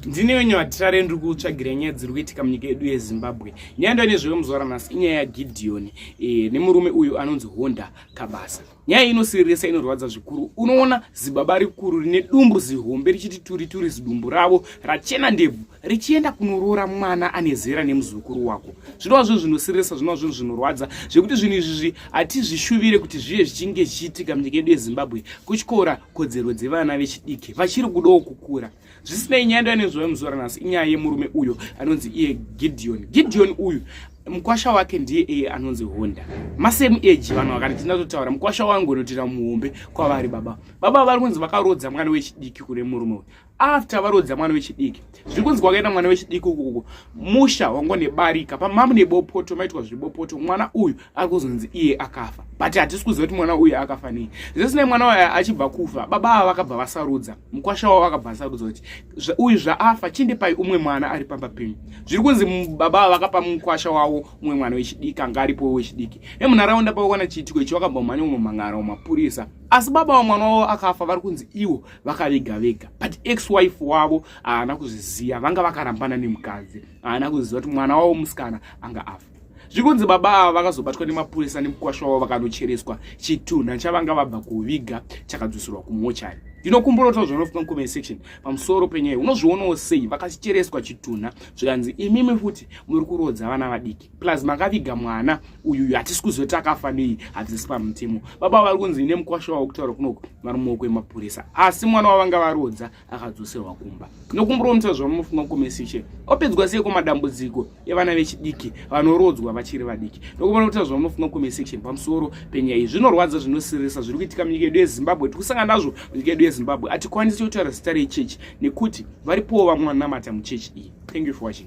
ndine wenyu vatirare ndiri kutsvagira nyaya dziri kuitika munyika yedu yezimbabwe nyaya ndo nezveyo muzora nhasi inyaya yagidhiyoni e, eh, nemurume uyu anonzi honda kabasa nyaya inosiririsa inorwadza zvikuru unoona zibaba rikuru rine dumbu zihombe richiti turi turi zidumbu ravo rachena ndebvu richienda kunoroora mwana ane zera nemuzukuru wako zvinova zvinhu zvinosiririsa zvinova zvinhu zvinorwadza zvekuti zvinhu izvizvi hatizvishuvire kuti zvive zvichinge zvichiitika munyika yedu yezimbabwe kutyora kodzero dzevana vechidiki vachiri kudawo kukura zvisinei nyaya ndoyanenzwa yemuzuva ranhasi inyaya yemurume uyo anonzi iye gideon gideon uyu mukwasha wake ndiye iye anonzi honda masame age vanhu vakati tindatotaura mukwasha wangu unotira muhombe kwavari baba baba vari kunzi vakarodza mwana wechidiki kune murume uyu after varodza mwana wechidiki zviri kunzi kwakaenda mwana wechidiki ukukuko musha wango nebarika pamamu nebopoto maitwa zvebopoto mwana uyu ari kuzonzi iye akafa but hatisi kuziva kuti mwana uyu akafa nei zvisinei mwana uyu achibva kufa baba ava vakabva vasarudza mukwasha wavo akabva asarudza kuti uyu zvaafa chindipai umwe mwana ari pamba penyu zviri kunzi baba avo vakapa mukwasha wavo umwe mwana wechidiki anga aripo wechidiki nemunharaunda pavakwana chiitiko ichi vakabva mhanya unomhan'ara wamapurisa asi baba vamwana wavo akafa vari kunzi ivo vakaviga vega but ex wife wavo haana kuzviziva vanga vakarambana nemukadzi haana kuziva kuti mwana wavo musikana anga afa zvikunzi baba ava vakazobatwa nemapurisa nemukwasha wavo vakanochereswa chitunha chavanga vabva kuviga chakadzoserwa kumochari ndinokumburotawo zvanofuka mucomment section pamusoro penyaya unozvionawo sei vakachereswa chitunha zvikanzi imimi futi muri kurodza vana vadiki plus makaviga mwana uyuyu hatisi kuzoti akafa nei hatisi pamutemo baba vari kunzi nemukwasha wavo kutaura kunoko vari muoko emapurisa asi mwana wavanga varodza akadzoserwa kumba nokumuromisa zvamunofunga kumesishe opedzwa sei kumadambudziko evana vechidiki vanorodzwa vachiri vadiki nokumuromisa zvamunofunga kumesishe pamusoro penyaya iyi zvinorwadza zvinosirisa zviri kuitika munyika yedu yezimbabwe tiri kusangana nazvo munyika yedu yezimbabwe hatikwanisi kutaura zita rechechi nekuti varipowo vamwe vanamata muchechi iyi thank you for watching